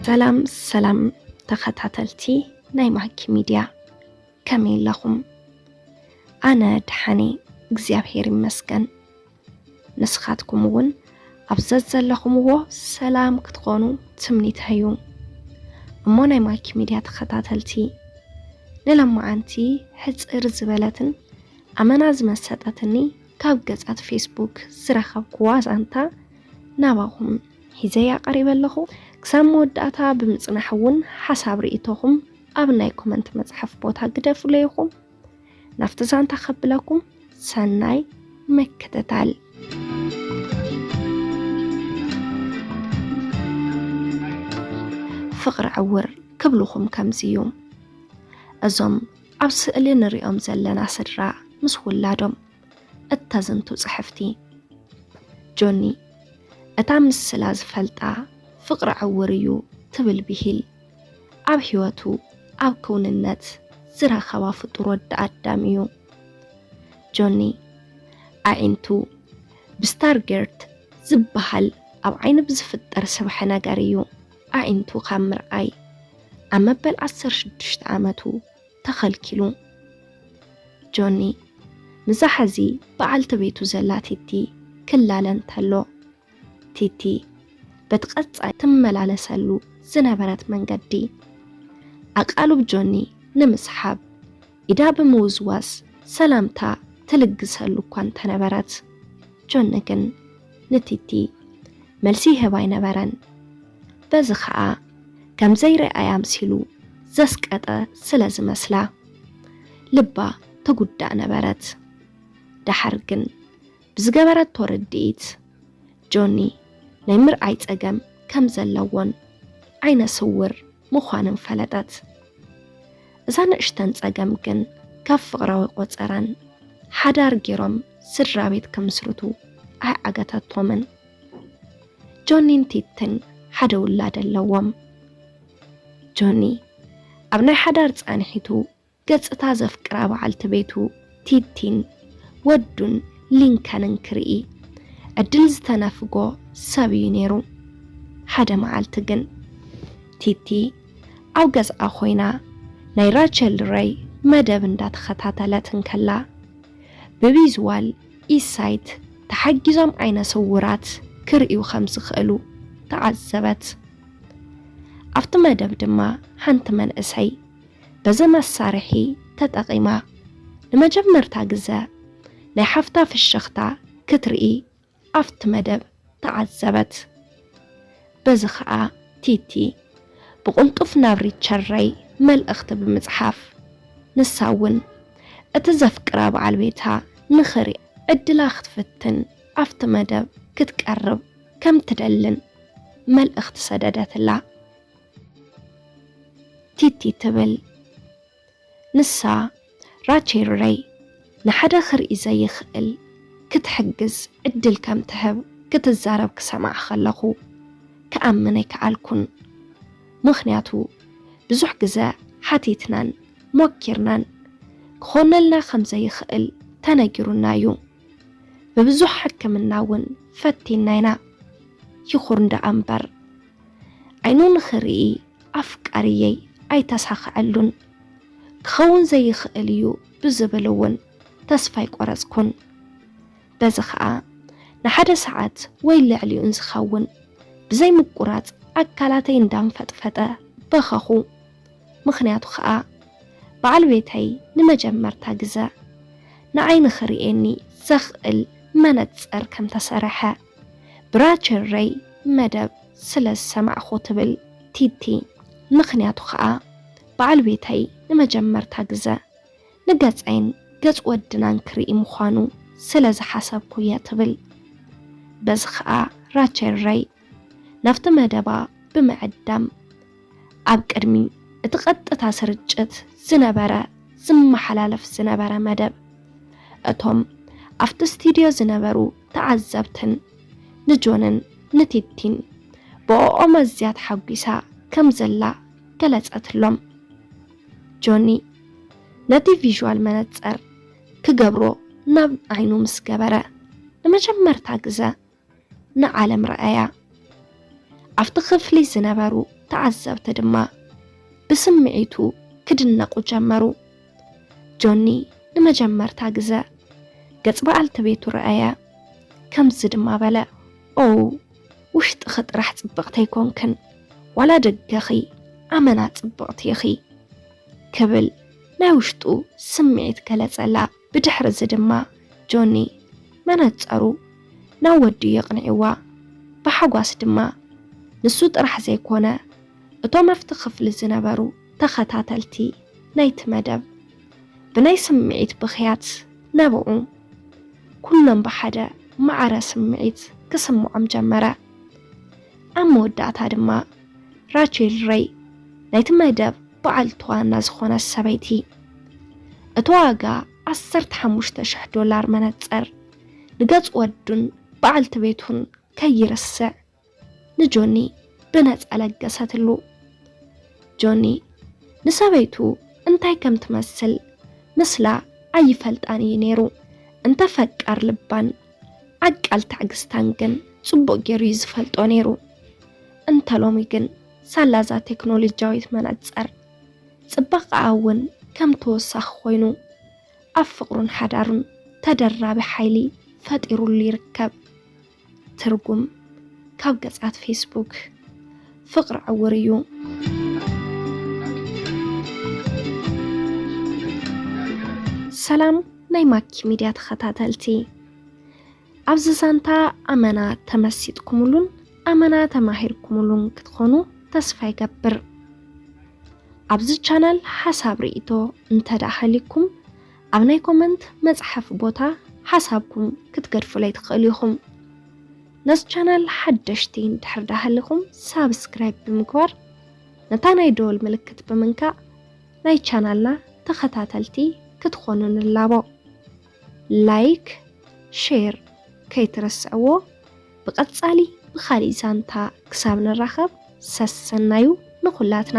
ሰላም ሰላም ተኸታተልቲ ናይ ማኪ ሚድያ ከመይ ኣለኹም? ኣነ ደሓን እየ እግዚኣብሄር ይመስገን። ንስኻትኩም እውን ኣብ ዘዘለኹምዎ ሰላም ክትኾኑ ትምኒተይ እዩ። እሞ ናይ ማኪ ሚድያ ተኸታተልቲ ንለማዓንቲ ሕፅር ዝበለትን ኣመና ዝመሰጠትኒ ካብ ገጻት ፌስቡክ ዝረኸብኩዋ ዛንታ ናባኹም ሒዘያ ቀሪበ ኣለኹ። ክሳብ መወዳእታ ብምጽናሕ እውን ሓሳብ ርእይቶኹም ኣብ ናይ ኮመንት መጽሓፍ ቦታ ግደፉለይ ኢኹም። ናብቲ ዛንታ ከብለኩም ሰናይ መከተታል። ፍቕሪ ዕውር ክብልኹም ከምዚ እዩ። እዞም ኣብ ስእሊ ንሪኦም ዘለና ስድራ ምስ ውላዶም እተዝንቱ ጽሕፍቲ ጆኒ እታ ምስላ ዝፈልጣ ፍቕሪ ዕውር እዩ ትብል ብሂል ኣብ ህይወቱ ኣብ ክውንነት ዝረኸባ ፍጡር ወዲ ኣዳም እዩ። ጆኒ ኣዒንቱ ብስታርጌርት ዝበሃል ኣብ ዓይኒ ብዝፍጠር ስብሐ ነገር እዩ። ኣዒንቱ ካብ ምርኣይ ኣብ መበል ዓሰርተ ሽዱሽተ ዓመቱ ተኸልኪሉ። ጆኒ ምስዛ ሐዚ በዓልቲ ቤቱ ዘላ ቲቲ ክላለ እንተሎ፣ ቲቲ በቲ ቀጻይ ትመላለሰሉ ዝነበረት መንገዲ ኣቃልብ ጆኒ ንምስሓብ ኢዳ ብምውዝዋዝ ሰላምታ ትልግሰሉ እኳ እንተነበረት፣ ጆኒ ግን ንቲቲ መልሲ ይህብ ኣይነበረን። በዚ ኸኣ ከም ዘይርኣያ ኣምሲሉ ዘስቀጠ ስለ ዝመስላ ልባ ትጉዳእ ነበረት። ደሓር ግን ብዝገበረቶ ርድኢት ጆኒ ናይ ምርኣይ ጸገም ከም ዘለዎን ዓይነ ስውር ምዃንን ፈለጠት። እዛ ንእሽተን ጸገም ግን ካብ ፍቕራዊ ቆጸራን ሓዳር ጌሮም ስድራ ቤት ክምስርቱ ኣይዓገተቶምን። ጆኒን ቲትን ሓደ ውላድ ኣለዎም። ጆኒ ኣብ ናይ ሓዳር ጻንሒቱ ገጽታ ዘፍቅራ በዓልቲ ቤቱ ቲቲን ወዱን ሊንከንን ክርኢ ዕድል ዝተነፍጎ ሰብ እዩ ነይሩ። ሓደ መዓልቲ ግን ቲቲ ኣብ ገዝኣ ኮይና ናይ ራቸል ረይ መደብ እንዳተኸታተለት እንከላ ብቪዝዋል ኢሳይት ተሓጊዞም ዓይነ ስውራት ክርእዩ ከም ዝኽእሉ ተዓዘበት። ኣብቲ መደብ ድማ ሓንቲ መንእሰይ በዚ መሳርሒ ተጠቒማ ንመጀመርታ ግዘ ናይ ሓፍታ ፍሽኽታ ክትርኢ ኣብቲ መደብ ተዓዘበት። በዚ ከኣ ቲቲ ብቕልጡፍ ናብ ሪቸረይ መልእኽቲ ብምጽሓፍ ንሳ እውን እቲ ዘፍቅራ በዓል ቤታ ንኽሪ ዕድላ ክትፍትን ኣብቲ መደብ ክትቀርብ ከም ትደልን መልእኽቲ ሰደደትላ። ቲቲ ትብል ንሳ ራቼርረይ ንሓደ ክርኢ ዘይኽእል ክትሕግዝ ዕድል ከም ትህብ ክትዛረብ ክሰምዓ ከለኹ ክኣምን ኣይከኣልኩን ምኽንያቱ ብዙሕ ግዘ ሓቲትናን ሞኪርናን ክኾነልና ከም ዘይኽእል ተነጊሩና እዩ ብብዙሕ ሕክምና እውን ፈቲና ኢና ይኹን ደኣ እምበር ዓይኑ ንኽርኢ ኣፍቃሪየይ ኣይተሳኸዐሉን። ክኸውን ዘይኽእል እዩ ብዝብል እውን ተስፋ ኣይቆረፅኩን። በዚ ከዓ ንሓደ ሰዓት ወይ ልዕሊኡን ዝኸውን ብዘይ ምቁራፅ ኣካላተይ እንዳንፈጥፈጠ በኸኹ። ምኽንያቱ ከዓ በዓል ቤተይ ንመጀመርታ ግዘ ንዓይ ንኽርእየኒ ዘኽእል መነፀር ከምተሰረሐ። ብራቸረይ መደብ ስለ ዝሰማዕኹ ትብል ቲቲ፣ ምኽንያቱ ከኣ በዓል ቤተይ ንመጀመርታ ግዘ ንገፀይን ገፅ ወድናን ክርኢ ምዃኑ ስለ ዝሓሰብኩ እየ ትብል። በዚ ከኣ ራቸረይ ናብቲ መደባ ብምዕዳም ኣብ ቅድሚ እቲ ቀጥታ ስርጭት ዝነበረ ዝመሓላለፍ ዝነበረ መደብ እቶም ኣብቲ ስቱድዮ ዝነበሩ ተዓዘብትን ንጆንን ንቲቲን ብኦኦም ኣዝያ ተሓጒሳ ከም ዘላ ገለጸትሎም። ጆኒ ነቲ ቪዥዋል መነጸር ክገብሮ ናብ ዓይኑ ምስ ገበረ ንመጀመርታ ግዘ ንዓለም ረኣያ። ኣብቲ ክፍሊ ዝነበሩ ተዓዘብቲ ድማ ብስምዒቱ ክድነቑ ጀመሩ። ጆኒ ንመጀመርታ ግዘ ገጽ በዓልቲ ቤቱ ረኣያ። ከምዚ ድማ በለ፣ ኦው፣ ውሽጥኺ ጥራሕ ጽብቕቲ ኣይኮንክን፣ ዋላ ደገኺ ኣመና ጽብቕቲ ኢኺ። ክብል ናይ ውሽጡ ስምዒት ገለጸላ። ብድሕሪ እዚ ድማ ጆኒ መነጸሩ ናብ ወዱ የቕኒዕዋ ብሓጓስ ድማ ንሱ ጥራሕ ዘይኮነ እቶም ኣብቲ ክፍሊ ዝነበሩ ተኸታተልቲ ናይቲ መደብ ብናይ ስምዒት ብኽያት ነበዑ። ኩሎም ብሓደ ማዕረ ስምዒት ክስምዖም ጀመረ። ኣብ መወዳእታ ድማ። ራቼል ረይ ናይቲ መደብ በዓልቲ ዋና ዝኾነት ሰበይቲ እቲ ዋጋ 15,000 ዶላር መነፅር ንገፅ ወዱን በዓልቲ ቤቱን ከይርስዕ ንጆኒ ብነፃ ለገሰትሉ። ጆኒ ንሰበይቱ እንታይ ከም ትመስል ምስላ ኣይፈልጣን እዩ ነይሩ። እንተ ፈቃር ልባን ዓቃል ታዕግስታን ግን ጽቡቕ ገይሩ እዩ ዝፈልጦ ነይሩ። እንተ ሎሚ ግን ሳላዛ ቴክኖሎጂያዊት መነጸር ጽባቐኣ እውን ከም ተወሳኺ ኮይኑ ኣብ ፍቕሩን ሓዳሩን ተደራቢ ሓይሊ ፈጢሩሉ ይርከብ። ትርጉም ካብ ገጻት ፌስቡክ ፍቅሪ ዕውር እዩ። ሰላም ናይ ማኪ ሚድያ ተኸታተልቲ ኣብዚ ዛንታ ኣመና ተመሲጥኩምሉን ኣመና ተማሂርኩምሉን ክትኾኑ ተስፋ ይገብር። ኣብዚ ቻናል ሓሳብ ርእይቶ እንተደኣ ሃልይኩም ኣብ ናይ ኮመንት መፅሓፊ ቦታ ሓሳብኩም ክትገድፉለይ ትኽእሉ ኢኹም። ነዚ ቻናል ሓደሽቲ እንድሕር ደኣ ሃሊኹም ሳብስክራይብ ብምግባር ነታ ናይ ደወል ምልክት ብምንካእ ናይ ቻናልና ተኸታተልቲ ክትኾኑ ንላቦ። ላይክ ሼር ከይትረስዕዎ ብቐጻሊ ብኻሊእ ዛንታ ክሳብ ንራኸብ ሰሰናዩ ንኹላትና።